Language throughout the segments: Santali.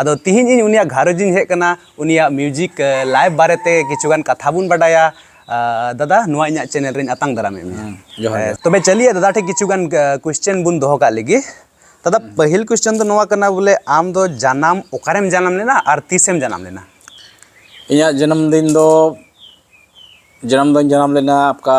ᱟᱫᱚ ᱛᱤᱦᱤᱧ ᱤᱧ ᱩᱱᱤᱭᱟᱜ ᱜᱷᱟᱨᱚᱸᱡᱽ ᱤᱧ ᱦᱮᱡ ᱠᱟᱱᱟ ᱩᱱᱤᱭᱟᱜ ᱢᱤᱭᱩᱡᱤᱠ ᱞᱟᱭᱤᱵᱷ ᱵᱟᱨᱮᱛᱮ ᱠᱤᱪᱷᱩᱜᱟᱱ ᱠᱟᱛᱷᱟ ᱵᱚᱱ ᱵᱟᱰᱟᱭᱟ ᱫᱟᱫᱟ ᱱᱚᱣᱟ ᱤᱧᱟᱜ ᱪᱮᱱᱮᱞ ᱨᱮᱧ ᱟᱛᱟᱝ ᱫᱟᱨᱟᱢᱮᱫ ᱢᱮᱭᱟ ᱛᱚᱵᱮ ᱪᱟᱹᱞᱤᱭᱟ ᱫᱟᱫᱟ ᱴᱷᱮᱱ ᱠᱤᱪᱷᱩᱜᱟᱱ ᱠᱩᱥᱪᱮᱱ ᱵᱚᱱ ᱫᱚᱦᱚ ᱠᱟᱜ ᱞᱟᱹᱜᱤᱫ ᱫᱟᱫᱟ ᱯᱟᱹᱦᱤᱞ ᱠᱩᱥᱪᱮᱱ ᱫᱚ ᱱᱚᱣᱟ ᱠᱟᱱᱟ ᱵᱚᱞᱮ ᱟᱢ ᱫᱚ ᱡᱟᱱᱟᱢ ᱚᱠᱟᱨᱮᱢ ᱡᱟᱱᱟᱢ ᱞᱮᱱᱟ ᱟᱨ ᱛᱤᱥᱮᱢ ᱡᱟᱱᱟᱢ ᱞᱮᱱᱟ ᱤᱧᱟᱹᱜ ᱡᱟᱱᱟᱢ ᱫᱤᱱ ᱫᱚ ᱡᱟᱱᱟᱢ ᱫᱚᱧ ᱡᱟᱱᱟᱢ ᱞᱮᱱᱟ ᱚᱠᱟ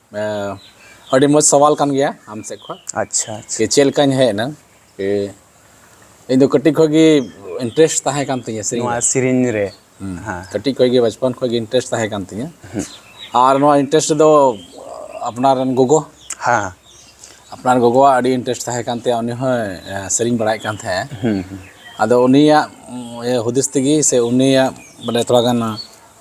ᱟᱹᱰᱤ ᱢᱚᱡᱽ ᱥᱟᱣᱟᱞ ᱠᱟᱱ ᱜᱮᱭᱟ ᱟᱢ ᱥᱮᱫ ᱠᱷᱚᱱ ᱟᱪᱪᱷᱟ ᱟᱪᱪᱷᱟ ᱪᱮᱫ ᱞᱮᱠᱟᱧ ᱦᱮᱡ ᱮᱱᱟ ᱤᱧ ᱫᱚ ᱠᱟᱹᱴᱤᱡ ᱠᱷᱚᱱ ᱜᱮ ᱤᱱᱴᱟᱨᱮᱥᱴ ᱛᱟᱦᱮᱸ ᱠᱟᱱ ᱛᱤᱧᱟᱹ ᱥᱮᱨᱮᱧ ᱱᱚᱣᱟ ᱥᱮᱨᱮᱧ ᱨᱮ ᱠᱟᱹᱴᱤᱡ ᱠᱷᱚᱱ ᱜᱮ ᱵᱟᱪᱯᱚᱱ ᱠᱷᱚᱱ ᱜᱮ ᱤᱱᱴᱟᱨᱮᱥᱴ ᱛᱟᱦᱮᱸ ᱠᱟᱱ ᱛᱤᱧᱟᱹ ᱟᱨ ᱱᱚᱣᱟ ᱤᱱᱴᱟᱨᱮᱥᱴ ᱫᱚ ᱟᱯᱱᱟᱨ ᱨᱮᱱ ᱜᱚᱜᱚ ᱦᱮᱸ ᱟᱯᱱᱟᱨ ᱜᱚᱜᱚᱣᱟᱜ ᱟᱹᱰᱤ ᱤᱱᱴᱟᱨᱮᱥᱴ ᱛᱟᱦᱮᱸ ᱠᱟᱱ ᱛᱟᱭᱟ ᱩᱱᱤ ᱦᱚᱸ ᱥᱮᱨᱮᱧ ᱵᱟᱲᱟᱭᱮᱫ ᱠᱟᱱ ᱛᱟᱦᱮᱸᱫ ᱟᱫᱚ ᱩᱱᱤᱭᱟᱜ ᱦᱩᱫᱤᱥ ᱛᱮᱜᱮ ᱥᱮ ᱩᱱᱤᱭᱟᱜ ᱢᱟᱱᱮ ᱛᱷᱚᱲᱟ ᱜᱟᱱ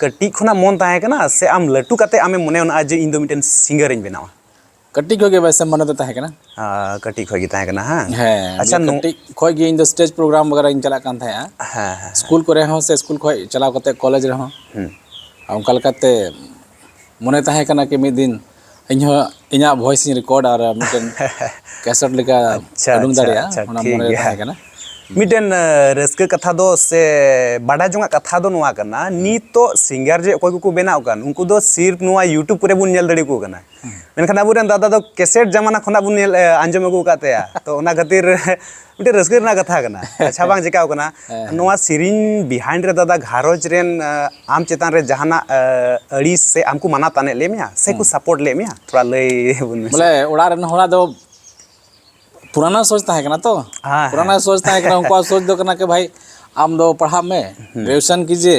ᱠᱟᱹᱴᱤᱡ ᱠᱷᱚᱱᱟᱜ ᱢᱚᱱ ᱛᱟᱦᱮᱸ ᱠᱟᱱᱟ ᱥᱮ ᱟᱢ ᱞᱟᱹᱴᱩ ᱠᱟᱛᱮ ᱟᱢᱮᱢ ᱢᱚᱱᱮ ᱚᱱᱟ ᱡᱮ ᱤᱧ ᱫᱚ ᱢᱤᱫᱴᱮᱱ ᱥᱤᱝᱜᱟᱨ ᱤᱧ ᱵᱮᱱᱟᱣᱟ ᱠᱟᱹᱴᱤᱡ ᱠᱷᱚᱡ ᱜᱮ ᱵᱟᱭᱥᱮ ᱢᱚᱱᱮ ᱫᱚ ᱛᱟᱦᱮᱸ ᱠᱟᱱᱟ ᱠᱟᱹᱴᱤᱡ ᱠᱷᱚᱡ ᱜᱮ ᱛᱟᱦᱮᱸ ᱠᱟᱱᱟ ᱦᱮᱸ ᱦᱮᱸ ᱟᱪᱪᱷᱟ ᱠᱟᱹᱴᱤᱡ ᱠᱷᱚᱡ ᱜᱮ ᱤᱧ ᱫᱚ ᱥᱴᱮᱡᱽ ᱯᱨᱳᱜᱨᱟᱢ ᱵᱟᱜᱮᱨᱟ ᱤᱧ ᱪᱟᱞᱟᱜ ᱠᱟᱱ ᱛᱟᱦᱮᱸᱜᱼᱟ ᱦᱮᱸ ᱦᱮᱸ ᱥᱠᱩᱞ ᱠᱚᱨᱮ ᱦᱚᱸ ᱥᱮ ᱥᱠᱩᱞ ᱠᱷᱚᱡ ᱪᱟᱞᱟᱣ ᱠᱟᱛᱮ ᱠᱚᱞᱮᱡᱽ ᱨᱮᱦᱚᱸ ᱚᱱᱠᱟ ᱞᱮᱠᱟᱛᱮ ᱢᱚᱱᱮ ᱛᱟᱦᱮᱸ ᱠᱟᱱᱟ ᱠᱤ ᱢᱤᱫ ᱫᱤᱱ ᱤᱧ ᱦᱚᱸ ᱤᱧᱟᱹᱜ ᱵᱷᱚᱭᱮᱥ ᱤᱧ ᱨᱮᱠᱚᱨᱰ ᱟᱨ ᱢᱤᱫᱴᱮᱱ ᱠᱮᱥᱮᱴ ᱞᱮᱠᱟ ᱟᱪᱪᱷᱟ, ᱩᱰᱩᱝ ᱟᱪᱪᱷᱟ, ᱫᱟᱲᱮᱭᱟᱜᱼᱟ ᱟᱪᱪᱷᱟ, ᱚᱱᱟ ᱴᱷᱤᱠ ᱢᱚᱱᱮ ᱨᱮ ᱜᱮᱭᱟ᱾ ᱛᱟᱦᱮᱸ ᱠᱟᱱᱟ ᱢᱤᱫᱴᱮᱱ ᱮ, ᱨᱟᱹᱥᱠᱟᱹ ᱠᱟᱛᱷᱟ ᱫᱚ ᱥᱮ ᱵᱟᱰᱟᱭ ᱡᱚᱝᱟᱜ ᱠᱟᱛᱷᱟ ᱫᱚ ᱱᱚᱣᱟ ᱠᱟᱱᱟ ᱱᱤᱛᱚᱜ ᱥᱤᱝᱜᱟᱨ ᱡᱮ ᱚᱠᱚᱭ ᱠᱚᱠᱚ ᱵᱮᱱᱟᱣ ᱠᱟᱱ ᱩᱱᱠᱩ ᱫᱚ ᱥᱤᱨᱯ ᱱᱚᱣᱟ ᱤᱭᱩᱴᱩᱵᱽ ᱠᱚᱨᱮ ᱵᱚᱱ ᱧᱮᱞ ᱫᱟᱲᱮ ᱟᱠᱚ ᱠᱟᱱᱟ ᱢᱮᱱᱠᱷᱟᱱ ᱟᱵᱚᱨᱮᱱ ᱫᱟᱫᱟ ᱫᱚ ᱠᱮᱥᱮᱴ ᱡᱟᱢᱟᱱᱟ ᱠᱷᱚᱱᱟᱜ ᱵᱚᱱ ᱧᱮᱞ ᱮ, ᱟᱸᱡᱚᱢ ᱟᱹᱜᱩ ᱟᱠᱟᱫ ᱛᱟᱭᱟ ᱛᱚ ᱚᱱᱟ ᱠᱷᱟᱹᱛᱤᱨ ᱢᱤᱫᱴᱮᱱ ᱨᱟᱹᱥᱠᱟᱹ ᱨᱮᱱᱟᱜ ᱠᱟᱛᱷᱟ ᱠᱟᱱᱟ ᱟᱪᱪᱷᱟ ᱵᱟᱝ ᱪᱮᱠᱟᱣ ᱠᱟᱱᱟ ᱱᱚᱣᱟ ᱥᱮᱨᱮᱧ ᱵᱤᱦᱟᱭᱤᱱᱰ ᱨᱮ ᱫᱟᱫᱟ ᱜᱷᱟᱨᱚᱸᱡᱽ ᱨᱮᱱ ᱟᱢ ᱪᱮᱛᱟᱱ ᱨᱮ ᱡᱟᱦᱟᱱᱟᱜ ᱟᱹᱲᱤᱥ ᱥᱮ ᱟᱢ ᱠᱚ ᱢᱟᱱᱟ ᱛᱟᱱᱮᱫ ᱞᱮ ᱢᱮᱭᱟ ᱥᱮ ᱠᱚ ᱥᱟᱯᱳᱨᱴ ᱞᱮ ᱢᱮᱭᱟ ᱛᱷᱚᱲᱟ ᱞᱟᱹᱭ ᱵᱚᱱ ᱢᱮ ᱵᱚᱞᱮ ᱚᱲᱟᱜ ᱨᱮᱱ ᱦᱚᱲᱟᱜ ᱫᱚ ᱯᱩᱨᱟᱱᱟ ᱥᱳᱪ ᱛᱟᱦᱮᱸ ᱠᱟᱱᱟ ᱛᱚ ᱯᱩᱨᱟᱱᱟ ᱥᱳᱪ ᱛᱟᱦᱮᱸ ᱠᱟᱱᱟ ᱩᱱᱠᱩᱣᱟᱜ ᱥᱳᱪ ᱫᱚ ᱠᱟᱱᱟ ᱠᱤ ᱵᱷᱟᱭ ᱟᱢ ᱫᱚ ᱯᱟᱲᱦᱟᱜ ᱢᱮ ᱜᱨᱮᱡᱩᱭᱮᱥᱚᱱ ᱠᱤᱡᱤᱭᱮ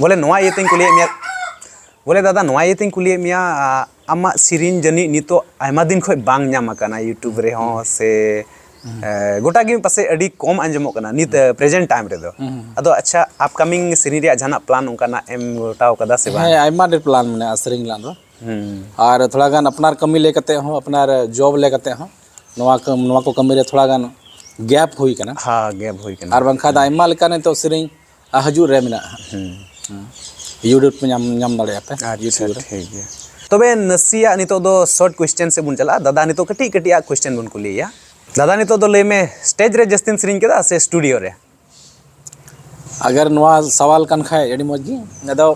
ᱵᱚᱞᱮ ᱱᱚᱣᱟ ᱤᱭᱟᱹ ᱛᱤᱧ ᱠᱩᱞᱤᱭᱮᱫ ᱢᱮᱭᱟ ᱵᱚᱞᱮ ᱫᱟᱫᱟ ᱱᱚᱣᱟ ᱤᱭᱟᱹ ᱛᱤᱧ ᱠᱩᱞᱤᱭᱮᱫ ᱢᱮᱭᱟ ᱟᱢᱟᱜ ᱥᱮᱨᱮᱧ ᱡᱟᱹᱱᱤᱡ ᱱᱤᱛᱚᱜ ᱟᱭᱢᱟ ᱫᱤᱱ ᱠᱷᱚᱱ ᱵᱟᱝ ᱧᱟᱢ ᱟᱠᱟᱱᱟ ᱤᱭᱩᱴᱩᱵᱽ ᱨᱮᱦᱚᱸ ᱥᱮ ᱜᱚᱴᱟ ᱜᱮ ᱯᱟᱥᱮᱡ ᱟᱹᱰᱤ ᱠᱚᱢ ᱟᱸᱡᱚᱢᱚᱜ ᱠᱟᱱᱟ ᱱᱤᱛ ᱯᱨᱮᱡᱮᱱᱴ ᱴᱟᱭᱤᱢ ᱨᱮᱫᱚ ᱟᱫᱚ ᱟᱪᱪᱷᱟ ᱟᱯᱠᱟᱢᱤᱝ ᱥᱮᱨᱮᱧ ᱨᱮᱭᱟᱜ ᱡᱟᱦᱟᱱᱟᱜ ᱯᱞᱟᱱ ᱚᱱᱠᱟᱱᱟᱜ ᱮᱢ ᱜᱚᱴᱟᱣ ᱠᱟᱫᱟ ᱥᱮ ᱵᱟᱝ ᱦᱮᱸ ᱟᱭᱢᱟ ᱰᱷᱮᱨ ᱯᱞᱟᱱ ᱢᱮᱱᱟᱜᱼᱟ ᱥᱮᱨᱮᱧ ᱨᱮᱱᱟᱜ ᱫᱚ ᱟᱨ ᱛᱷᱚᱲᱟ ᱜᱟᱱ ᱟᱯᱱᱟᱨ ᱠᱟᱹᱢᱤ ᱞᱟᱹᱭ ᱠᱟᱛᱮ ᱦᱚᱸ ᱟᱯᱱᱟᱨ ᱡᱚᱵ ᱞᱟᱹᱭ ᱠᱟᱛᱮ ᱦᱚᱸ ᱱᱚᱣᱟ ᱱᱚᱣᱟ ᱠᱚ ᱠᱟᱹᱢᱤ ᱨᱮ ᱛᱷᱚᱲᱟ ᱜᱟᱱ ᱜᱮᱯ ᱦᱩᱭ ᱠᱟᱱᱟ ᱦᱮᱸ ᱜᱮᱯ ᱦᱩᱭ ᱠᱟᱱᱟ ᱟᱨ ᱵᱟᱝᱠᱷᱟᱱ ᱫᱚ ᱟᱭᱢᱟ ᱞᱮᱠᱟᱱ ᱱᱤᱛᱚᱜ ᱥᱮᱨᱮᱧ ᱟᱨ ᱦᱤᱡᱩᱜ ᱨᱮ ᱢᱮᱱᱟᱜᱼᱟ ᱤᱭᱩᱴᱩᱵᱽ ᱯᱮ ᱧᱟᱢ ᱧᱟᱢ ᱫᱟᱲᱮᱭᱟᱜᱼᱟ ᱯᱮ ᱟᱪᱪᱷᱟ ᱴᱷᱤᱠ ᱜᱮᱭᱟ ᱛᱚᱵᱮ ᱱᱟᱥᱮᱭᱟᱜ ᱱᱤᱛᱚᱜ ᱫᱚ ᱥᱚᱨᱴ ᱠᱚᱥᱪᱮᱱ ᱥᱮᱫ ᱵᱚᱱ ᱪᱟᱞᱟᱜᱼᱟ ᱫᱟᱫᱟ ᱱᱤᱛᱚᱜ ᱠᱟᱹᱴᱤᱡ ᱠᱟᱹᱴᱤᱡ ᱟᱜ ᱠᱚᱥᱪᱮᱱ ᱵᱚᱱ ᱠᱩᱞᱤᱭᱮᱭᱟ ᱫᱟᱫᱟ ᱱᱤᱛᱚᱜ ᱫᱚ ᱞᱟᱹᱭ ᱢᱮ ᱥᱴᱮᱡᱽ ᱨᱮ ᱡᱟᱹᱥᱛᱤᱢ ᱥᱮᱨᱮᱧ ᱠᱮᱫᱟ ᱥᱮ ᱥᱴᱩᱰᱤᱭᱳ ᱨᱮ ᱟᱜᱟᱨ ᱱᱚᱣᱟ ᱥᱟᱣᱟᱞ ᱠᱟᱱ ᱠᱷᱟᱡ ᱟᱹᱰᱤ ᱢᱚᱡᱽ ᱜᱮ ᱟᱫᱚ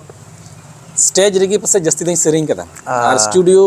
ᱥᱴᱮᱡᱽ ᱨᱮᱜᱮ ᱯᱟᱥᱮᱡ ᱡᱟᱹᱥᱛᱤ ᱫᱚᱧ ᱥᱮᱨᱮᱧ ᱠᱟᱫᱟ ᱟᱨ ᱥᱴᱩᱰᱤᱭᱳ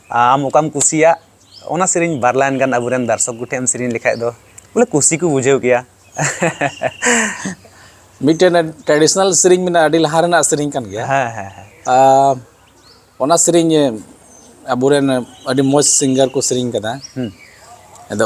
ᱟᱢ ᱚᱠᱟᱢ ᱠᱩᱥᱤᱭᱟᱜ ᱚᱱᱟ ᱥᱮᱨᱮᱧ ᱵᱟᱨ ᱞᱟᱭᱤᱱ ᱜᱟᱱ ᱟᱵᱚᱨᱮᱱ ᱫᱟᱨᱥᱚᱠ ᱠᱚᱴᱷᱮᱱ ᱮᱢ ᱥᱮᱨᱮᱧ ᱞᱮᱠᱷᱟᱡ ᱫᱚ ᱵᱚᱞᱮ ᱠᱩᱥᱤ ᱠᱚ ᱵᱩᱡᱷᱟᱹᱣ ᱠᱮᱭᱟ ᱢᱤᱫᱴᱮᱱ ᱴᱨᱟᱰᱤᱥᱚᱱᱟᱞ ᱥᱮᱨᱮᱧ ᱢᱮᱱᱟᱜᱼᱟ ᱟᱹᱰᱤ ᱞᱟᱦᱟ ᱨᱮᱱᱟᱜ ᱥᱮᱨᱮᱧ ᱠᱟᱱ ᱜᱮᱭᱟ ᱦᱮᱸ ᱦᱮᱸ ᱦᱮᱸ ᱚᱱᱟ ᱥᱮᱨᱮᱧ ᱟᱵᱚᱨᱮᱱ ᱟᱹᱰᱤ ᱢᱚᱡᱽ ᱥᱤᱝᱜᱟᱨ ᱠᱚ ᱥᱮᱨᱮᱧ ᱠᱟᱫᱟ ᱟᱫᱚ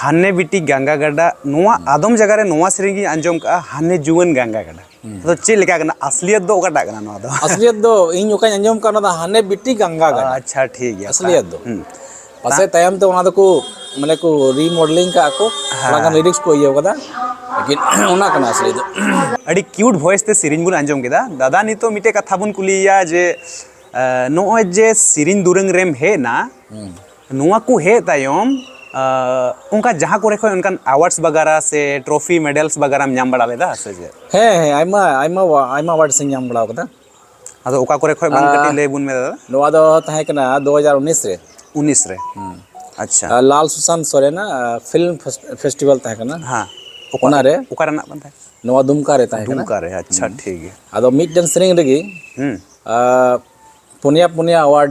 ᱦᱟᱱᱮ ᱵᱤᱴᱤ ᱜᱟᱝᱜᱟ ᱜᱟᱰᱟ ᱱᱚᱣᱟ ᱟᱫᱚᱢ ᱡᱟᱭᱜᱟ ᱨᱮ ᱱᱚᱣᱟ ᱥᱮᱨᱮᱧ ᱜᱤᱧ ᱟᱸᱡᱚᱢ ᱠᱟᱜᱼᱟ ᱦᱟᱱᱮ ᱡᱩᱣᱟᱹᱱ ᱜᱟᱝᱜᱟ ᱜᱟᱰᱟ ᱟᱫᱚ ᱪᱮᱫ ᱞᱮᱠᱟ ᱠᱟᱱᱟ ᱟᱥᱞᱤᱭᱟᱛ ᱫᱚ ᱚᱠᱟᱴᱟᱜ ᱠᱟᱱᱟ ᱱᱚᱣᱟ ᱫᱚ ᱟᱥᱞᱤᱭᱟᱛ ᱫᱚ ᱤᱧ ᱚᱠᱟᱧ ᱟᱸᱡᱚᱢ ᱠᱟᱜ ᱚᱱᱟ ᱫᱚ ᱦᱟᱱᱮ ᱵᱤᱴᱤ ᱜᱟᱝᱜᱟ ᱜᱟᱰᱟ ᱟᱪᱪᱷᱟ ᱴᱷᱤᱠ ᱜᱮᱭᱟ ᱟᱥᱞᱤᱭᱟᱛ ᱫᱚ ᱯᱟᱥᱮ ᱛᱟᱭᱚᱢ ᱛᱮ ᱚᱱᱟ ᱫᱚᱠᱚ ᱢᱟᱱᱮ ᱠᱚ ᱨᱤᱢᱚᱰᱮᱞᱤᱝ ᱠᱟᱜᱼᱟ ᱠᱚ ᱚᱱᱟ ᱠᱟᱱ ᱞᱤᱨᱤᱠᱥ ᱠᱚ ᱤᱭᱟᱹ ᱠᱟᱫᱟ ᱞᱮᱠᱤᱱ ᱚᱱᱟ ᱠᱟᱱᱟ ᱟᱥᱞᱤ ᱫᱚ ᱟᱹᱰᱤ ᱠᱤᱭᱩᱴ ᱵᱷᱚᱭᱮᱥ ᱛᱮ ᱥᱮᱨᱮᱧ ᱵᱚᱱ ᱟᱸᱡᱚᱢ ᱠᱮᱫᱟ ᱫᱟᱫᱟ ᱱᱤᱛᱚᱜ ᱢᱤᱫᱴᱮᱡ ᱠᱟᱛᱷᱟ ᱵᱚᱱ ᱠᱩᱞᱤᱭᱮᱭᱟ ᱡᱮ ᱱᱚᱜᱼᱚᱭ ᱡᱮ ᱥᱮᱨᱮᱧ ᱫᱩᱨᱟᱹᱝ ᱨᱮᱢ ᱦᱮᱡ ᱮᱱᱟ ᱱᱚᱣᱟ ᱠᱚ ᱦᱮᱡ ᱛᱟᱭᱚᱢ ᱚᱱᱠᱟ ᱡᱟᱦᱟᱸ ᱠᱚᱨᱮ ᱠᱷᱚᱱ ᱚᱱᱠᱟᱱ ᱟᱣᱟᱨᱰᱥ ᱵᱟᱜᱟᱨᱟ ᱥᱮ ᱴᱨᱚᱯᱷᱤ ᱢᱮᱰᱮᱞᱥ ᱵᱟᱜᱟᱨᱟᱢ ᱧᱟᱢ ᱵᱟᱲᱟ ᱞᱮᱫᱟ ᱥᱮ ᱪᱮᱫ ᱦᱮᱸ ᱦᱮᱸ ᱟᱭᱢᱟ ᱟᱭᱢᱟ ᱟᱭᱢᱟ ᱟᱣᱟᱨᱰᱥ ᱤᱧ ᱧᱟᱢ ᱵᱟᱲᱟ ᱟᱠᱟᱫᱟ ᱟᱫᱚ ᱚᱠᱟ ᱠᱚᱨᱮ ᱠᱷᱚᱱ ᱵᱟᱝ ᱠᱟᱹᱴᱤᱡ ᱞᱟᱹᱭ ᱵᱚᱱ ᱢᱮ ᱫᱟᱫᱟ ᱱᱚᱣᱟ ᱫᱚ ᱛᱟᱦᱮᱸ ᱠᱟᱱᱟ ᱫᱩ ᱦᱟᱡᱟᱨ ᱩᱱᱤᱥ ᱨᱮ ᱩᱱᱤᱥ ᱨᱮ ᱟᱪᱪᱷᱟ ᱞᱟᱞ ᱥᱩᱥᱟᱱᱛ ᱥᱚᱨᱮᱱᱟᱜ ᱯᱷᱤᱞᱢ ᱯᱷᱮᱥᱴᱤᱵᱷᱮᱞ ᱛᱟᱦᱮᱸ ᱠᱟᱱᱟ ᱦᱮᱸ ᱚᱱᱟᱨᱮ ᱚᱠᱟ ᱨᱮᱱᱟᱜ ᱠᱟᱱ ᱛᱟᱦᱮᱸ ᱱᱚᱣᱟ ᱫᱩᱢᱠᱟ ᱨᱮ ᱛᱟᱦᱮᱸ ᱠᱟᱱᱟ ᱫᱩᱢᱠᱟ ᱨᱮ ᱟᱪᱪᱷᱟ ᱴᱷᱤᱠ ᱜᱮᱭᱟ ᱟᱫᱚ ᱢᱤᱫᱴᱮᱱ ᱥᱮᱨᱮᱧ ᱨᱮᱜᱮ ᱯᱩᱱᱭᱟ ᱯᱩᱱᱭᱟ ᱟᱣᱟᱨᱰ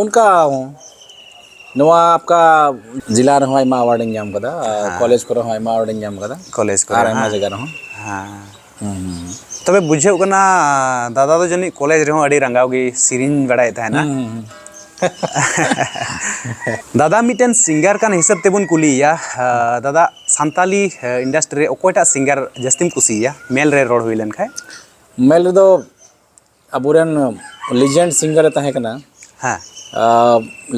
ᱚᱱᱠᱟ ᱱᱚᱣᱟ ᱟᱯᱠᱟ ᱡᱮᱞᱟ ᱨᱮᱦᱚᱸ ᱟᱭᱢᱟ ᱟᱣᱟᱨᱰ ᱤᱧ ᱧᱟᱢ ᱠᱟᱫᱟ ᱠᱚᱞᱮᱡᱽ ᱠᱚᱨᱮ ᱦᱚᱸ ᱟᱭᱢᱟ ᱟᱣᱟᱨᱰ ᱤᱧ ᱧᱟᱢ ᱠᱟᱫᱟ ᱠᱚᱞᱮᱡᱽ ᱠᱚᱨᱮ ᱟᱨ ᱟᱭᱢᱟ ᱡᱟᱭᱜᱟ ᱨᱮᱦᱚᱸ ᱦᱮᱸ ᱛᱚᱵᱮ ᱵᱩᱡᱷᱟᱹᱜ ᱠᱟᱱᱟ ᱫᱟᱫᱟ ᱫᱚ ᱡᱟᱹᱱᱤᱡ ᱠᱚᱞᱮᱡᱽ ᱨᱮᱦᱚᱸ ᱟᱹᱰᱤ ᱨᱟᱸᱜᱟᱣ ᱜᱮ ᱥᱮᱨᱮᱧ ᱵᱟᱲᱟᱭᱮᱫ ᱛᱟᱦᱮᱱᱟ ᱫᱟᱫᱟ ᱢᱤᱫᱴᱮᱱ ᱥᱤᱝᱜᱟᱨ ᱠᱟᱱ ᱦᱤᱥᱟᱹᱵ ᱛᱮᱵᱚᱱ ᱠᱩᱞᱤᱭᱮᱭᱟ ᱫᱟᱫᱟ ᱥᱟᱱᱛᱟᱞᱤ ᱤᱱᱰᱟᱥᱴᱨᱤ ᱨᱮ ᱚᱠᱚᱭᱴᱟᱜ ᱥᱤᱝᱜᱟᱨ ᱡᱟᱹᱥᱛᱤᱢ ᱠᱩᱥᱤᱭᱟᱭᱟ ᱢᱮᱞ ᱨᱮ ᱨᱚᱲ ᱦᱩᱭ ᱞᱮᱱᱠᱷᱟᱡ ᱢᱮᱞ ᱨᱮᱫᱚ ᱟᱵᱚᱨᱮᱱ ᱞᱤᱡᱮᱱᱰ ᱥᱤᱝᱜᱟᱨ ᱮ ᱛᱟᱦᱮᱸ ᱠᱟᱱᱟ ᱦᱮᱸ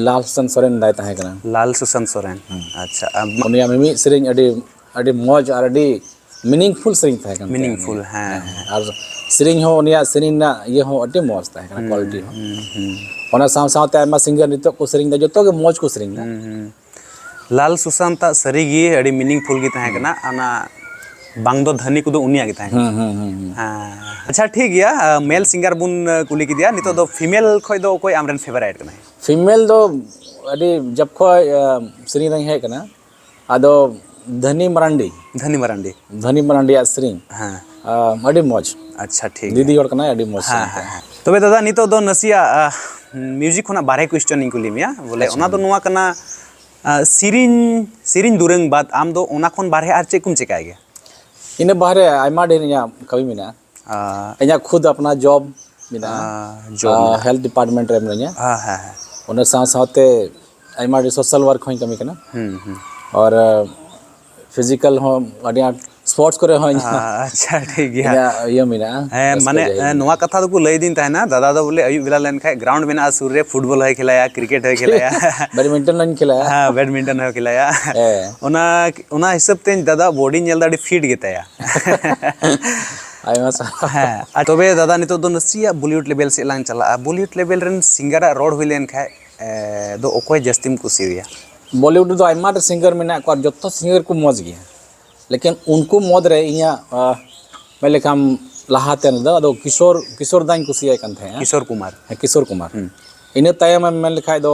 ᱞᱟᱞ ᱥᱟᱱ ᱥᱚᱨᱮᱱ ᱫᱟᱭ ᱛᱟᱦᱮᱸ ᱠᱟᱱᱟ ᱞᱟᱞ ᱥᱩᱥᱟᱱ ᱥᱚᱨᱮᱱ ᱟᱪᱪᱷᱟ ᱩᱱᱤᱭᱟᱜ ᱢᱤᱢᱤᱫ ᱥᱮᱨᱮᱧ ᱟᱹᱰᱤ ᱟᱹᱰᱤ ᱢᱚᱡᱽ ᱟᱨ ᱟᱹᱰᱤ ᱢᱤᱱᱤᱝᱯᱷᱩᱞ ᱥᱮᱨᱮᱧ ᱛᱟᱦᱮᱸ ᱠᱟᱱᱟ ᱢᱤᱱᱤᱝᱯᱷᱩᱞ ᱦᱮᱸ ᱟᱨ ᱥᱮᱨᱮᱧ ᱦᱚᱸ ᱩᱱᱤᱭᱟᱜ ᱥᱮᱨᱮᱧ ᱨᱮᱱᱟᱜ ᱤᱭᱟᱹ ᱦᱚᱸ ᱟᱹᱰᱤ ᱢᱚᱡᱽ ᱛᱟᱦᱮᱸ ᱠᱟᱱᱟ ᱠᱳᱣᱟᱞᱤᱴᱤ ᱦᱚᱸ ᱚᱱᱟ ᱥᱟᱶ ᱥᱟᱶᱛᱮ ᱟᱭᱢᱟ ᱥᱤᱝᱜᱟᱨ ᱱᱤᱛᱚᱜ ᱠᱚ ᱥᱮᱨᱮᱧ ᱮᱫᱟ ᱡᱚᱛᱚ ᱜᱮ ᱢᱚᱡᱽ ᱠᱚ ᱥᱮᱨᱮᱧ ᱮᱫᱟ ᱞᱟᱞ ᱥᱩᱥᱟᱱᱛ ᱟᱜ ᱥᱟᱹᱨᱤ ᱜᱮ ᱟᱹᱰᱤ ᱢᱤᱱᱤᱝᱯᱷᱩᱞ ᱜᱮ ᱛᱟᱦᱮᱸ ᱠᱟᱱᱟ ᱚᱱᱟ ᱵᱟᱝ ᱫᱚ ᱫᱷᱟᱹᱱᱤ ᱠᱚᱫᱚ ᱩᱱᱤᱭᱟᱜ ᱜᱮ ᱛᱟᱦᱮᱸ ᱠᱟᱱᱟ ᱦᱮᱸ ᱦᱮᱸ ᱦᱮᱸ ᱦᱮᱸ᱾ ᱦᱮᱸ ᱟᱪᱪᱷᱟ ᱴᱷᱤᱠ ᱜᱮᱭᱟ ᱢᱮᱞ ᱥᱤᱝᱜᱟᱨ ᱵᱚᱱ ᱠᱩᱞᱤ ᱠᱮᱫᱮᱭᱟ ᱱᱤᱛᱚᱜ ᱫᱚ ᱯᱷᱤᱢᱮᱞ ᱠᱷᱚᱡ ᱫᱚ ᱚᱠᱚᱭ ᱟᱢᱨᱮᱱ ᱯᱷᱮᱵᱟᱨᱟᱭᱤᱴ ᱠᱟᱱᱟᱭ ᱯᱷᱤᱢᱮᱞ ᱫᱚ ᱟᱹᱰᱤ ᱡᱚᱵ ᱠᱷᱚᱡ ᱥᱮᱨᱮᱧ ᱨᱮᱧ ᱦᱮᱡ ᱠᱟᱱᱟ ᱟᱫᱚ ᱫᱷᱟᱹᱱᱤ ᱢᱟᱨᱟᱱᱰᱤ ᱫᱷᱟᱹᱱᱤ ᱢᱟᱨᱟᱱᱰᱤ ᱫᱷᱟᱹᱱᱤ ᱢᱟᱨᱟᱱᱰᱤᱭᱟᱜ ᱥᱮᱨᱮᱧ ᱦᱮᱸ ᱟᱹᱰᱤ ᱢᱚᱡᱽ ᱟᱪᱪᱷᱟ ᱴᱷᱤᱠ ᱫᱤᱫᱤ ᱦᱚᱲ ᱠᱟᱱᱟᱭ ᱟᱹᱰᱤ ᱢᱚᱡᱽ ᱦᱮᱸ ᱦᱮᱸ ᱛᱚᱵᱮ ᱫᱟᱫᱟ ᱱᱤᱛᱚᱜ ᱫᱚ ᱱᱟᱥᱮᱭᱟᱜ ᱢᱤᱭᱩᱡᱤᱠ ᱠᱷᱚᱱᱟᱜ ᱵᱟᱨᱦᱮ ᱠᱩᱭᱥᱪᱚᱱ ᱤᱧ ᱠᱩᱞᱤ ᱢᱮᱭᱟ ᱵᱚᱞᱮ ᱚᱱᱟ ᱫᱚ ᱱᱚᱣᱟ ᱠᱟᱱᱟ ᱥᱮᱨᱮᱧ ᱥᱮᱨᱮᱧ ᱫᱩᱨᱟᱹᱝ ᱵᱟᱫ ᱟᱢ ᱫᱚ ᱚᱱᱟ ᱠᱷᱚᱱ ᱵᱟᱨᱦᱮ ᱟᱨ ᱪᱮᱫ ᱠᱚᱢ ᱪᱮᱠᱟᱭ ᱜᱮᱭᱟ ᱤᱱᱟᱹ ᱵᱟᱨᱦᱮ ᱟᱭᱢᱟ ᱰᱷᱮᱨ ᱤᱧᱟᱹᱜ ᱠᱟᱹᱢᱤ ᱢᱮᱱᱟᱜᱼᱟ ᱤᱧᱟᱹᱜ ᱠᱷᱩᱫ ᱟᱯᱱᱟᱨ ᱡᱚᱵ ᱢᱮᱱᱟᱜᱼᱟ ᱦᱮᱞᱛᱷ ᱰᱤᱯᱟᱨᱴᱢᱮᱱᱴ ᱨᱮ ᱢᱤᱱᱟᱹᱧᱟ ᱚᱱᱟ ᱥᱟᱶ ᱥᱟᱶᱛᱮ ᱟᱭᱢᱟ ᱰᱷᱮᱨ ᱥᱳᱥᱟᱞ ᱳᱣᱟᱨᱠ ᱦᱚᱧ ᱠᱟᱹᱢᱤ ᱠᱟᱱᱟ ᱟᱨ ᱯᱷᱤᱡᱤᱠᱮᱞ ᱦᱚᱸ ᱟᱹᱰᱤ ᱟᱸᱴ ᱥᱯᱳᱨᱴᱥ ᱠᱚᱨᱮ ᱦᱚᱸ ᱟᱪᱪᱷᱟ ᱴᱷᱤᱠ ᱜᱮᱭᱟ ᱤᱧᱟᱹᱜ ᱤᱭᱟᱹ ᱢᱮᱱᱟᱜᱼᱟ ᱦᱮᱸ ᱢᱟᱱᱮ ᱱᱚᱣᱟ ᱠᱟᱛᱷᱟ ᱫᱚᱠᱚ ᱞᱟᱹᱭᱫᱤᱧ ᱛᱟᱦᱮᱱᱟ ᱫᱟᱫᱟ ᱫᱚ ᱵᱚᱞᱮ ᱟᱹᱭᱩᱵ ᱵᱮᱞᱟ ᱞᱮᱱᱠᱷᱟᱡ ᱜᱨᱟᱣᱩᱱᱰ ᱢᱮᱱᱟᱜᱼᱟ ᱥᱩᱨ ᱨᱮ ᱯᱷᱩᱴᱵᱚᱞ ᱦᱚᱸᱭ ᱠᱷᱮᱞᱟᱭᱟ ᱠᱨᱤᱠᱮᱴ ᱦᱚᱸᱭ ᱠᱷᱮᱞᱟᱭᱟ ᱵᱮᱰᱢᱤᱱᱴᱚᱱ ᱦᱚᱧ ᱠᱷᱮᱞᱟᱭᱟ ᱦᱮᱸ ᱵᱮᱰᱢᱤᱱᱴᱚᱱ ᱦᱚᱸᱭ ᱠᱷᱮᱞᱟᱭᱟ ᱚᱱᱟ ᱚᱱᱟ ᱦᱤᱥᱟᱹᱵ ᱛᱮ ᱫᱟᱫᱟ ᱵᱚᱰᱤ ᱧᱮᱞ ᱫᱟ ᱟᱹᱰᱤ ᱯᱷᱤᱴ ᱜᱮᱛᱟᱭᱟ ᱟᱭᱢᱟ ᱥᱟᱨᱦᱟᱣ ᱦᱮᱸ ᱟᱨ ᱛᱚᱵᱮ ᱫᱟᱫᱟ ᱱᱤᱛᱚᱜ ᱫᱚ ᱱᱟᱥᱮᱭᱟᱜ ᱵᱚᱞᱤᱣᱩᱰ ᱞᱮᱵᱮᱞ ᱥᱮᱫ ᱞᱟᱝ ᱪᱟᱞᱟᱜᱼᱟ ᱵᱚᱞᱤᱣᱩᱰ ᱞᱮᱵᱮᱞ ᱨᱮᱱ ᱥᱤᱝᱜᱟᱨᱟᱜ ᱨᱚᱲ ᱦᱩᱭ ᱞᱮᱱ ᱠᱷᱟᱡ ᱫᱚ ᱚᱠᱚᱭ ᱡᱟᱹᱥᱛᱤᱢ ᱠᱩᱥᱤᱭᱟᱭᱟ ᱵᱚᱞᱤᱣᱩᱰ ᱨᱮᱫᱚ ᱟᱭᱢᱟ ᱰᱷᱮᱨ ᱥᱤᱝᱜᱟᱨ ᱢᱮᱱᱟᱜ ᱠᱚᱣᱟ ᱡᱚᱛᱚ ᱥᱤᱝᱜᱟᱨ ᱠᱚ ᱢᱚᱡᱽ ᱜᱮᱭᱟ ᱞᱮᱠᱤᱱ ᱩᱱᱠᱩ ᱢᱩᱫᱽ ᱨᱮ ᱤᱧᱟᱹᱜ ᱢᱮᱱ ᱞᱮᱠᱷᱟᱱ ᱞᱟᱦᱟᱛᱮ ᱫᱚ ᱟᱫᱚ ᱠᱤᱥᱳᱨ ᱠᱤᱥᱳᱨ ᱫᱟᱧ ᱠᱩᱥᱤᱭᱟᱭ ᱠᱟᱱ ᱛᱟᱦᱮᱸᱫᱼᱟ ᱠᱤᱥᱳᱨ ᱠᱩᱢᱟᱨ ᱦᱮᱸ ᱠᱤᱥᱳᱨ ᱠᱩᱢᱟᱨ ᱤᱱᱟᱹ ᱛᱟᱭᱚᱢᱮᱢ ᱢᱮᱱ ᱞᱮᱠᱷᱟᱱ ᱫᱚ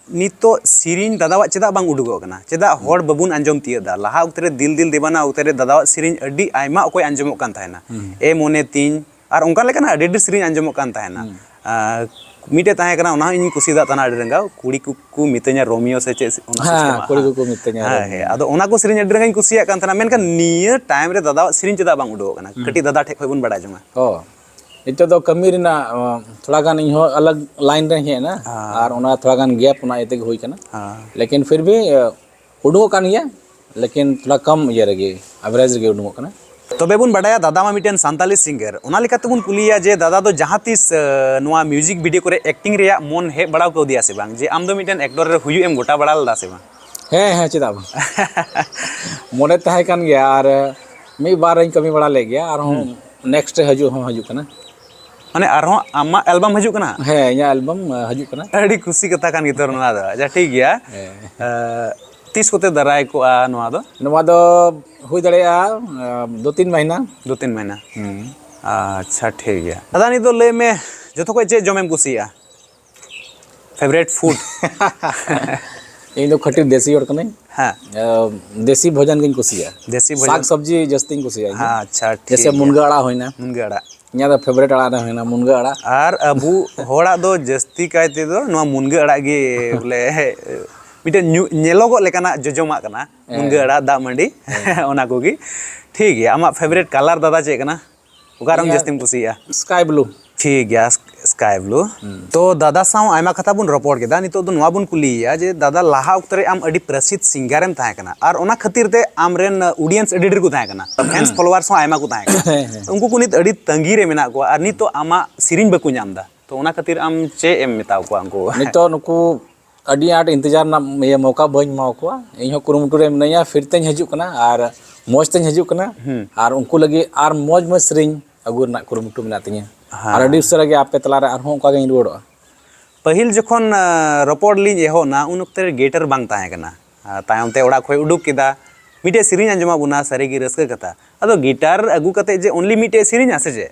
ᱱᱤᱛᱚᱜ ᱥᱮᱨᱮᱧ ᱫᱟᱫᱟᱣᱟᱜ ᱪᱮᱫᱟᱜ ᱵᱟᱝ ᱩᱰᱩᱠᱚᱜ ᱠᱟᱱᱟ ᱪᱮᱫᱟᱜ ᱦᱚᱲ ᱵᱟᱵᱚᱱ ᱟᱸᱡᱚᱢ ᱛᱤᱭᱟᱹᱜ ᱫᱟ ᱞᱟᱦᱟ ᱚᱠᱛᱮ ᱨᱮ ᱫᱤᱞ ᱫᱤᱞ ᱫᱮᱵᱟᱱᱟ ᱚᱠᱛᱮ ᱨᱮ ᱫᱟᱫᱟᱣᱟᱜ ᱥᱮᱨᱮᱧ ᱟᱹᱰᱤ ᱟᱭᱢᱟ ᱚᱠᱚᱭ ᱟᱸᱡᱚᱢᱚᱜ ᱠᱟᱱ ᱛᱟᱦᱮᱱᱟ ᱮ ᱢᱚᱱᱮ ᱛᱤᱧ ᱟᱨ ᱚᱱᱠᱟ ᱞᱮᱠᱟᱱᱟᱜ ᱟᱹᱰᱤ ᱟᱹᱰᱤ ᱥᱮᱨᱮᱧ ᱟᱸᱡᱚᱢᱚᱜ ᱠᱟᱱ ᱛᱟᱦᱮᱱᱟ ᱢᱤᱫᱴᱮᱡ ᱛᱟᱦᱮᱸ ᱠᱟᱱᱟ ᱚᱱᱟ ᱦᱚᱸ ᱤᱧ ᱠᱩᱥᱤᱭᱟᱫᱟ ᱛᱟᱦᱮᱱᱟ ᱟᱹᱰᱤ ᱨᱟᱸᱜᱟᱣ ᱠᱩᱲᱤ ᱠᱚᱠᱚ ᱢᱤᱛᱟᱹᱧᱟ ᱨᱳᱢᱤᱭᱳ ᱥᱮ ᱪᱮᱫ ᱚᱱᱟ ᱦᱮᱸ ᱠᱩᱲᱤ ᱠᱚᱠᱚ ᱢᱤᱛᱟᱹᱧᱟ ᱦᱮᱸ ᱦᱮᱸ ᱟᱫᱚ ᱚᱱᱟ ᱠᱚ ᱥᱮᱨᱮᱧ ᱟᱹᱰᱤ ᱨᱟᱸᱜᱟᱣᱤᱧ ᱠᱩᱥᱤᱭᱟᱜ ᱠᱟᱱ ᱛᱟᱦᱮᱱᱟ ᱢᱮᱱᱠᱷᱟᱱ ᱱᱤᱭᱟᱹ ᱴᱟᱭᱤᱢ ᱨᱮ ᱫᱟᱫᱟᱣᱟᱜ ᱥᱮᱨᱮᱧ ᱪᱮᱫᱟᱜ ᱵᱟᱝ ᱩᱰᱩᱠᱚᱜ ᱠᱟᱱᱟ ᱠᱟᱹᱴᱤᱡ ᱫᱟᱫᱟ ᱴᱷᱮᱡ ᱠᱷᱚᱡ ᱵᱚᱱ ᱵᱟᱲᱟᱭ ᱡᱚᱝᱟ ᱚ ᱱᱤᱛᱚᱜ ᱫᱚ ᱠᱟᱹᱢᱤ ᱨᱮᱱᱟᱜ ᱛᱷᱚᱲᱟ ᱜᱟᱱ ᱤᱧ ᱦᱚᱸ ᱟᱞᱟᱜᱽ ᱞᱟᱭᱤᱱ ᱨᱮ ᱦᱮᱡ ᱮᱱᱟ ᱟᱨ ᱚᱱᱟ ᱛᱷᱚᱲᱟ ᱜᱟᱱ ᱜᱮᱯ ᱚᱱᱟ ᱤᱭᱟᱹ ᱛᱮᱜᱮ ᱦᱩᱭ ᱠᱟᱱᱟ ᱞᱮᱠᱤᱱ ᱯᱷᱤᱨ ᱵᱷᱤ ᱩᱰᱩᱠᱚᱜ ᱠᱟᱱ ᱜᱮᱭᱟ ᱞᱮᱠᱤᱱ ᱛᱷᱚᱲᱟ ᱠᱚᱢ ᱤᱭᱟᱹ ᱨᱮᱜᱮ ᱟᱵᱷᱨᱮᱡᱽ ᱨᱮᱜᱮ ᱩᱰᱩᱠᱚᱜ ᱠᱟᱱᱟ ᱛᱚᱵᱮ ᱵᱚᱱ ᱵᱟᱰᱟᱭᱟ ᱫᱟᱫᱟ ᱢᱟ ᱢᱤᱫᱴᱮᱱ ᱥᱟᱱᱛᱟᱞᱤ ᱥᱤᱝᱜᱟᱨ ᱚᱱᱟ ᱞᱮᱠᱟᱛᱮ ᱵᱚᱱ ᱠᱩᱞᱤᱭᱟ ᱡᱮ ᱫᱟᱫᱟ ᱫᱚ ᱡᱟᱦᱟᱸ ᱛᱤᱥ ᱱᱚᱣᱟ ᱢᱤᱭᱩᱡᱤᱠ ᱵᱷᱤᱰᱤᱭᱳ ᱠᱚᱨᱮ ᱮᱠᱴᱤᱝ ᱨᱮᱭᱟᱜ ᱢᱚᱱ ᱦᱮᱡ ᱵᱟᱲᱟᱣ ᱠᱟᱣᱫᱮᱭᱟ ᱥᱮ ᱵᱟᱝ ᱡᱮ ᱟᱢ ᱫᱚ ᱢᱤᱫᱴᱮᱱ ᱮᱠᱴᱚᱨ ᱨᱮ ᱦᱩᱭᱩᱜ ᱮᱢ ᱜᱚᱴᱟ ᱵᱟᱲᱟ ᱞᱮᱫᱟ ᱥᱮ ᱵᱟᱝ ᱦᱮᱸ ᱦᱮᱸ ᱪᱮᱫᱟᱜ ᱵᱟᱝ ᱢᱚᱱᱮ ᱛᱟᱦᱮᱸ ᱠᱟᱱ ᱜᱮᱭᱟ ᱟᱨ ᱢᱤᱫ ᱵᱟᱨᱤᱧ ᱠᱟᱹᱢᱤ ᱵᱟᱲᱟ ᱞᱮᱫ ᱜᱮᱭᱟ ᱟᱨᱦᱚᱸ ᱦᱩᱸ ᱱᱮᱠᱥᱴ ᱨᱮ ᱦᱤᱡᱩᱜ ᱦᱚᱸ ᱦᱤᱡᱩᱜ ᱠᱟᱱᱟ ᱢᱟᱱᱮ ᱟᱨᱦᱚᱸ ᱟᱢᱟᱜ ᱮᱞᱵᱟᱢ ᱦᱤᱡᱩᱜ ᱠᱟᱱᱟ ᱦᱮᱸ ᱤᱧᱟᱹᱜ ᱮᱞᱵᱟᱢ ᱦᱤᱡᱩᱜ ᱠᱟᱱᱟ ᱟᱹᱰᱤ ᱠᱩᱥᱤ ᱠᱟᱛᱷᱟ ᱠᱟᱱ ᱜᱮᱛᱚ ᱱᱚᱣᱟ ᱫᱚ ᱟᱪᱪᱷᱟ ᱴᱷᱤᱠ ᱜᱮᱭᱟ ᱦᱮᱸ ᱛᱤᱥ ᱠᱚᱛᱮ ᱫᱟᱨᱟᱭ ᱠᱚᱜᱼᱟ ᱱᱚᱣᱟ ᱫᱚ ᱱᱚᱣᱟ ᱫᱚ ᱦᱩᱭ ᱫᱟᱲᱮᱭᱟᱜᱼᱟ ᱫᱩ ᱛᱤᱱ ᱢᱟᱹᱦᱱᱟᱹ ᱫᱩ ᱛᱤᱱ ᱢᱟᱹᱦᱱᱟᱹ ᱟᱪᱪᱷᱟ ᱴᱷᱤᱠ ᱜᱮᱭᱟ ᱫᱟᱫᱟ ᱱᱤᱛᱚᱜ ᱞᱟᱹᱭ ᱢᱮ ᱡᱚᱛᱚ ᱠᱷᱚᱡ ᱪᱮᱫ ᱡᱚᱢᱮᱢ ᱠᱩᱥᱤᱭᱟᱜᱼᱟ ᱯᱷᱮᱵᱨᱮᱴ ᱯᱷᱩᱰ ᱤᱧ ᱫᱚ ᱠᱷᱟᱹᱴᱤ ᱫᱮᱥᱤ ᱦᱚᱲ ᱠᱟᱹᱱᱟᱹᱧ ᱦᱮᱸ ᱫᱮᱥᱤ ᱵᱷᱚᱡᱚᱱ ᱜᱤᱧ ᱠᱩᱥᱤᱭᱟᱜᱼᱟ ᱫᱮᱥᱤ ᱵᱷᱚᱡᱚᱱ ᱥᱟᱠ ᱥᱚᱵᱽᱡᱤ ᱡᱟᱹᱥᱛᱤᱧ ᱠᱩᱥᱤᱭᱟᱜᱼᱟ ᱦᱮᱸ ᱟᱪᱪᱷᱟ ᱡᱮᱥᱮ ᱢᱩᱱᱜᱟᱹ ᱟᱲᱟᱜ ᱦᱩᱭᱱᱟ ᱢᱩᱱᱜᱟᱹ ᱟᱲᱟᱜ ᱤᱧᱟᱹᱜ ᱫᱚ ᱯᱷᱮᱵᱨᱮᱴ ᱟᱲᱟᱜ ᱫᱚ ᱦᱩᱭᱱᱟ ᱢᱩᱱᱜᱟᱹ ᱟᱲᱟᱜ ᱟᱨ ᱟᱵᱚ ᱦᱚᱲᱟᱜ ᱫᱚ ᱡᱟᱹᱥᱛᱤ ᱠᱟᱭ ᱛᱮᱫᱚ ᱱᱚᱣᱟ ᱢᱩᱱᱜᱟᱹ ᱟᱲᱟᱜ ᱜᱮ ᱵᱚᱞᱮ ᱢᱤᱫᱴᱮᱱ ᱧᱮᱞᱚᱜᱚᱜ ᱞᱮᱠᱟᱱᱟᱜ ᱡᱚᱡᱚᱢᱟᱜ ᱠᱟᱱᱟ ᱢᱩᱱᱜᱟᱹ ᱟᱲᱟᱜ ᱫᱟᱜ ᱢᱟᱹᱰᱤ ᱚᱱᱟ ᱠᱚᱜᱮ ᱴᱷᱤᱠ ᱜᱮᱭᱟ ᱟᱢᱟᱜ ᱯᱷᱮᱵᱨᱮᱴ ᱠᱟᱞᱟᱨ ᱫᱟᱫᱟ ᱪᱮᱫ ᱠᱟᱱᱟ ᱚᱠᱟ ᱨᱚᱝ ᱡᱟᱹᱥᱛᱤᱢ ᱠᱩᱥᱤᱭᱟᱜᱼᱟ ᱥᱠᱟᱭ ᱵᱞᱩ ᱴᱷᱤᱠ ᱜᱮᱭᱟ ᱥᱠᱟᱭ ᱵᱞᱩ ᱛᱚ ᱫᱟᱫᱟ ᱥᱟᱶ ᱟᱭᱢᱟ ᱠᱟᱛᱷᱟ ᱵᱚᱱ ᱨᱚᱯᱚᱲ ᱠᱮᱫᱟ ᱱᱤᱛᱚᱜ ᱫᱚ ᱱᱚᱣᱟ ᱵᱚᱱ ᱠᱩᱞᱤᱭᱮᱭᱟ ᱡᱮ ᱫᱟᱫᱟ ᱞᱟᱦᱟ ᱚᱠᱛᱚ ᱨᱮ ᱟᱢ ᱟᱹᱰᱤ ᱯᱨᱚᱥᱤᱫᱷ ᱥᱤᱝᱜᱟᱨᱮᱢ ᱛᱟᱦᱮᱸ ᱠᱟᱱᱟ ᱟᱨ ᱚᱱᱟ ᱠᱷᱟᱹᱛᱤᱨ ᱛᱮ ᱟᱢᱨᱮᱱ ᱚᱰᱤᱭᱮᱱᱥ ᱟᱹᱰᱤ ᱰᱷᱮᱨ ᱠᱚ ᱛᱟᱦᱮᱸ ᱠᱟᱱᱟ ᱯᱷᱮᱱᱥ ᱯᱷᱚᱞᱳᱣᱟᱨᱥ ᱦᱚᱸ ᱟᱭᱢᱟ ᱠᱚ ᱛᱟᱦᱮᱸ ᱠᱟᱱᱟ ᱩᱱᱠᱩ ᱠᱚ ᱱᱤᱛ ᱟᱹᱰᱤ ᱛᱟᱺᱜᱤ ᱨᱮ ᱢᱮᱱᱟᱜ ᱠᱚᱣᱟ ᱟᱨ ᱱᱤᱛᱚᱜ ᱟᱢᱟᱜ ᱥᱮᱨᱮᱧ ᱵᱟᱠᱚ ᱧᱟᱢ ᱮᱫᱟ ᱛᱚ ᱚᱱᱟ ᱠᱷᱟᱹᱛᱤᱨ ᱟᱢ ᱪᱮᱫ ᱮᱢ ᱢᱮᱛᱟ ᱠᱚᱣᱟ ᱩᱱᱠᱩ ᱱᱤᱛᱚᱜ ᱱᱩᱠᱩ ᱟᱹᱰᱤ ᱟᱸᱴ ᱤᱱᱛᱮᱡᱟᱨ ᱨᱮᱱᱟᱜ ᱤᱭᱟᱹ ᱢᱚᱠᱟ ᱵᱟᱹᱧ ᱮᱢᱟ ᱠᱚᱣᱟ ᱤᱧ ᱦᱚᱸ ᱠᱩᱨᱩᱢᱩᱴᱩ ᱨᱮ ᱢᱤᱱᱟᱹᱧᱟ ᱯᱷᱤᱨ ᱛᱮᱧ ᱦᱤᱡᱩᱜ ᱠᱟᱱᱟ ᱟᱨ ᱢᱚᱡᱽ ᱛᱮᱧ ᱦᱤᱡᱩᱜ ᱠᱟᱱᱟ ᱟᱨ ᱩᱱᱠᱩ ᱞᱟᱹᱜᱤᱫ ᱟᱨ ᱢᱚᱡᱽ ᱢᱚᱡᱽ ᱥᱮᱨᱮᱧ ᱟᱹᱜᱩ ᱨᱮᱱᱟᱜ ᱠᱩᱨᱩᱢᱩᱴᱩ ᱢᱮᱱᱟᱜ ᱛᱤᱧᱟᱹ ᱟᱨ ᱟᱹᱰᱤ ᱩᱥᱟᱹᱨᱟ ᱜᱮ ᱟᱯᱮ ᱛᱟᱞᱟᱨᱮ ᱟᱨᱦᱚᱸ ᱚᱱᱠᱟ ᱜᱤᱧ ᱨᱩᱣᱟᱹᱲᱚᱜᱼᱟ ᱯᱟᱹᱦᱤᱞ ᱡᱚᱠᱷᱚᱱ ᱨᱚᱯᱚᱲ ᱞᱤᱧ ᱮᱦᱚᱵ ᱮᱱᱟ ᱩᱱ ᱚᱠᱛᱮ ᱨᱮ ᱜᱮᱴᱟᱨ ᱵᱟᱝ ᱛᱟᱦᱮᱸ ᱠᱟᱱᱟ ᱟᱨ ᱛᱟᱭᱚᱢ ᱛᱮ ᱚᱲᱟᱜ ᱠᱷᱚᱱ ᱩᱰᱩᱠ ᱠᱮᱫᱟ ᱢᱤᱫᱴᱮᱡ ᱥᱮᱨᱮᱧ ᱟᱸᱡᱚᱢᱟᱜ ᱵᱚᱱᱟ ᱥᱟᱹᱨᱤᱜᱮ ᱨᱟᱹᱥᱠᱟᱹ ᱠᱟᱛᱷᱟ ᱟᱫᱚ ᱜᱮᱴᱟᱨ ᱟᱹᱜᱩ ᱠᱟᱛᱮᱫ ᱡᱮ ᱚᱱᱞᱤ ᱢᱤᱫᱴᱮᱡ ᱥᱮᱨᱮᱧᱟ ᱥᱮ ᱪᱮᱫ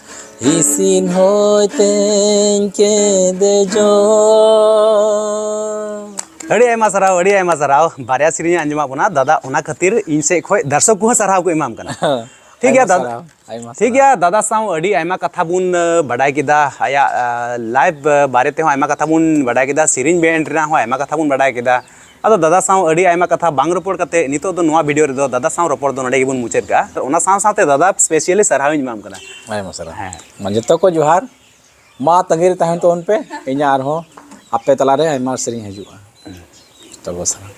ᱤᱥᱤᱱ ᱦᱚᱭ ᱛᱮᱧ ᱠᱮᱫᱮ ᱡᱚ ᱟᱹᱰᱤ ᱟᱭᱢᱟ ᱥᱟᱨᱦᱟᱣ ᱟᱹᱰᱤ ᱟᱭᱢᱟ ᱥᱟᱨᱦᱟᱣ ᱵᱟᱨᱭᱟ ᱥᱮᱨᱮᱧ ᱟᱸᱡᱚᱢᱟᱜ ᱵᱚᱱᱟ ᱫᱟᱫᱟ ᱚᱱᱟ ᱠᱷᱟᱹᱛᱤᱨ ᱤᱧ ᱥᱮᱫ ᱠᱷᱚᱱ ᱫᱟᱨᱥᱚᱠ ᱠᱚᱦᱚᱸ ᱥᱟᱨᱦᱟᱣ ᱠᱚ ᱮᱢᱟᱢ ᱠᱟᱱᱟ ᱴᱷᱤᱠ ᱜᱮᱭᱟ ᱫᱟᱫᱟ ᱴᱷᱤᱠ ᱜᱮᱭᱟ ᱫᱟᱫᱟ ᱥᱟᱶ ᱟᱹᱰᱤ ᱟᱭᱢᱟ ᱠᱟᱛᱷᱟ ᱵᱚᱱ ᱵᱟᱰᱟᱭ ᱠᱮᱫᱟ ᱟᱭᱟᱜ ᱞᱟᱭᱤᱯᱷ ᱵᱟᱨᱮ ᱛᱮᱦᱚᱸ ᱟᱭᱢᱟ ᱠᱟᱛᱷᱟ ᱵᱚᱱ ᱵᱟᱰᱟᱭ ᱠᱮᱫᱟ ᱥᱮᱨᱮᱧ ᱵᱮᱱᱰ ᱨᱮᱱᱟᱜ ᱦᱚᱸ ᱟᱭᱢᱟ ᱠᱟᱛᱷᱟ ᱵᱚᱱ ᱵᱟᱰᱟᱭ ᱠᱮᱫᱟ ᱟᱫᱚ ᱫᱟᱫᱟ ᱥᱟᱶ ᱟᱹᱰᱤ ᱟᱭᱢᱟ ᱠᱟᱛᱷᱟ ᱵᱟᱝ ᱨᱚᱯᱚᱲ ᱠᱟᱛᱮ ᱱᱤᱛᱚᱜ ᱫᱚ ᱱᱚᱣᱟ ᱵᱷᱤᱰᱤᱭᱳ ᱨᱮᱫᱚ ᱫᱟᱫᱟ ᱥᱟᱶ ᱨᱚᱯᱚᱲ ᱫᱚ ᱱᱚᱰᱮ ᱜᱮᱵᱚᱱ ᱢᱩᱪᱟᱹᱫ ᱠᱟᱜᱼᱟ ᱟᱨ ᱚᱱᱟ ᱥᱟᱶ ᱥᱟᱶᱛᱮ ᱫᱟᱫᱟ ᱥᱯᱮᱥᱤᱭᱟᱞᱤ ᱥᱟᱨᱦᱟᱣ ᱤᱧ ᱮᱢᱟᱢ ᱠᱟᱱᱟ ᱟᱭᱢᱟ ᱥᱟᱨᱦᱟᱣ ᱦᱮᱸ ᱢᱟ ᱡᱚᱛᱚ ᱠᱚ ᱡᱚᱦᱟᱨ ᱢᱟ ᱛᱟᱺᱜᱤ ᱨᱮ ᱛᱟᱦᱮᱱ ᱛᱟᱵᱚᱱ ᱯᱮ ᱤᱧᱟᱹᱜ ᱟᱨᱦᱚᱸ ᱟᱯᱮ ᱛᱟᱞᱟᱨᱮ ᱟᱭᱢᱟ ᱥᱮᱨᱮᱧ ᱦᱤᱡᱩᱜᱼᱟ ᱛᱚᱵᱮ ᱥᱟᱨᱦᱟᱣ